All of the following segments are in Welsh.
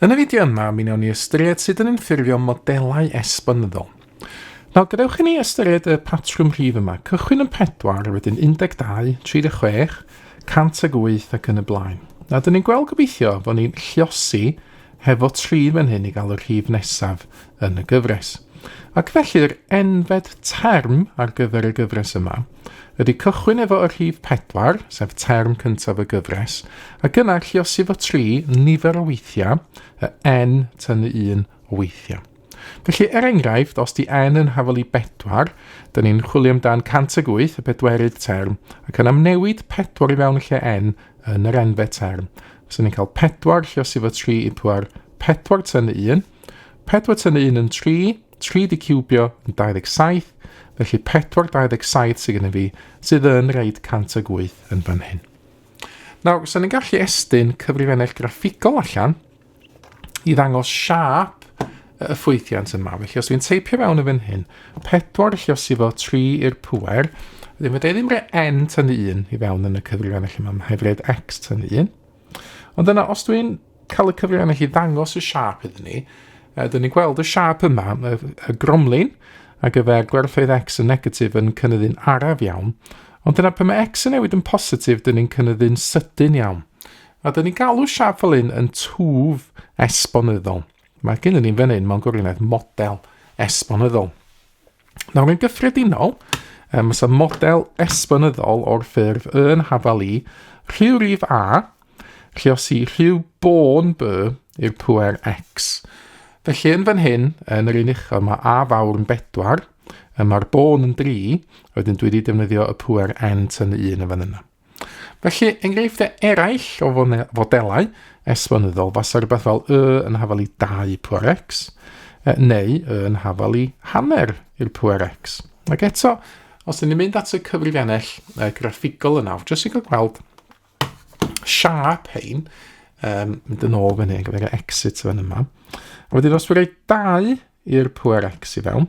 Yn y fideo yma, mi wnawn ni ystyried sut yn ymffurfio modelau esbonyddol. Nawr, gadewch i ni ystyried y patrwm rhif yma. Cychwyn yn 4, wedyn 12, 36, 108 ac yn y blaen. A dyn ni'n gweld gobeithio fod ni'n lliosi hefo 3 fan hyn i gael y rhif nesaf yn y gyfres. Ac felly'r enfed term ar gyfer y gyfres yma ydy cychwyn efo y rhif pedwar, sef term cyntaf y gyfres, ac yna lliosi fo tri nifer o weithiau, y n tynnu un o weithiau. Felly, er enghraifft, os di n yn hafol i bedwar, da ni'n chwilio amdan 108, y bedwerydd term, ac yna newid pedwar i fewn y lle n yn yr enfe term. Fyswn ni'n cael pedwar lliosi fo tri i pwar, pedwar tynnu un, pedwar tynnu un yn tri, 3 di cubio yn 27, felly 4 27 sydd gennym fi, sydd yn rhaid 108 yn fan hyn. Nawr, sy'n ni'n gallu estyn cyfrifennell graffigol allan i ddangos siap y ffwythiant yma. Felly os dwi'n teipio fewn yn fan hyn, 4 lle os i fo 3 i'r pwer, ddim fydde ddim rhaid n tynnu 1 i fewn yn y cyfrifan allan yma, hefyd x tynnu 1. Ond yna, os dwi'n cael y cyfrifiannau i ddangos y siap iddyn ni, uh, dyn ni'n gweld y siap yma, y, y gromlin, a gyfer gwerthoedd x yn negatif yn cynyddu'n araf iawn, ond dyna pan mae x yn newid yn positif, dyn ni'n cynyddu'n sydyn iawn. A dyn ni'n galw siap fel un yn twf esbonyddol. Mae gen i ni'n fan hyn mewn gwirionedd model esbonyddol. Nawr, yn gyffredinol, um, mae model esbonyddol o'r ffurf y yn hafal i rhyw rif a, lle os i rhyw bôn by i'r pwer x. Felly yn fan hyn, yn yr un uchel, mae a fawr yn bedwar, mae'r bôn yn dri, wedyn dwi wedi defnyddio y pwer n yn y un yn fan yna. Felly, enghreifftiau eraill o fodelau esbonyddol fasa rhywbeth fel y yn hafal i 2 pwer x, neu y yn hafal i hanner i'r pwer x. Ac eto, os ydym ni'n mynd at y cyfrifiannell uh, graffigol yna, jyst i gael gweld siap hein, um, mynd yn ôl fan hyn, gyda'r exit fan yma. A wedyn os dwi'n rhoi dau i'r pŵer x i fewn,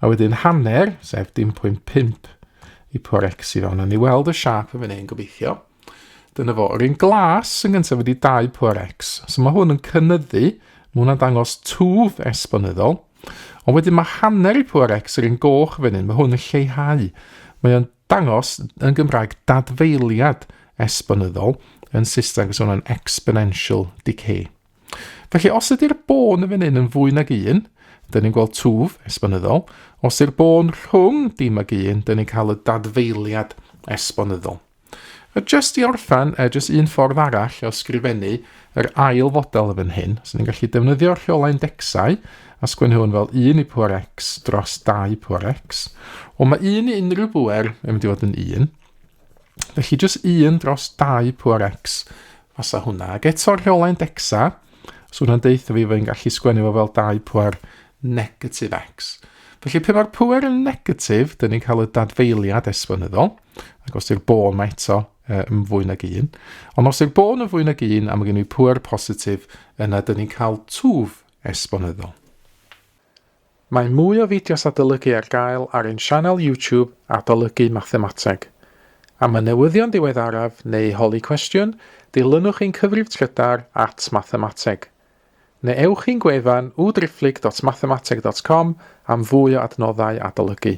a wedyn hanner, sef dim pwynt 5 i pŵer x i fewn. A ni weld y siap yn fan hyn, gobeithio. Dyna fo. Yr un glas yn gyntaf wedi 2 pŵer x. So mae hwn yn cynnyddu, mae hwnna'n dangos twf esbonyddol. Ond wedyn mae hanner i pŵer x yr un goch fan hyn, mae hwn yn lleihau. Mae o'n dangos yn Gymraeg dadfeiliad esbonyddol yn Saesneg, so hwnna'n exponential decay. Felly, os ydy'r bôn yn fan hyn yn fwy nag un, dyn ni'n gweld twf esbonyddol. Os yw'r bôn rhwng dim ag un, dyn ni'n cael y dadfeiliad esbonyddol. A jyst i orffen, e, jyst un ffordd arall o sgrifennu yr ail fodel yn fan hyn. So ni'n gallu defnyddio'r rheolau indexau a sgwennu hwn fel 1 i pŵer x dros 2 pŵer x. Ond mae 1 i unrhyw bŵer yn mynd i fod yn 1. Felly jyst un dros 2 pŵer x fasa hwnna. Ac eto rheolau'n dexa, so hwnna'n deitha fi fod yn gallu sgwennu fo fel 2 pŵer negatif x. Felly pe mae'r pŵer yn negatif, dyn ni'n cael y dadfeiliad esbonyddol, ac os yw'r bôn mae eto yn fwy nag un. Ond os yw'r bôn yn fwy nag un, a mae gen i pŵer positif, yna dyn ni'n cael twf esbonyddol. Mae mwy o fideos adolygu ar gael ar ein sianel YouTube Adolygu Mathemateg. Am y newyddion diweddaraf neu holi cwestiwn, dilynwch ein cyfrif trydar at Mathemateg. Neu ewch i'n gwefan www.driphlyg.mathemateg.com am fwy o adnoddau adolygu.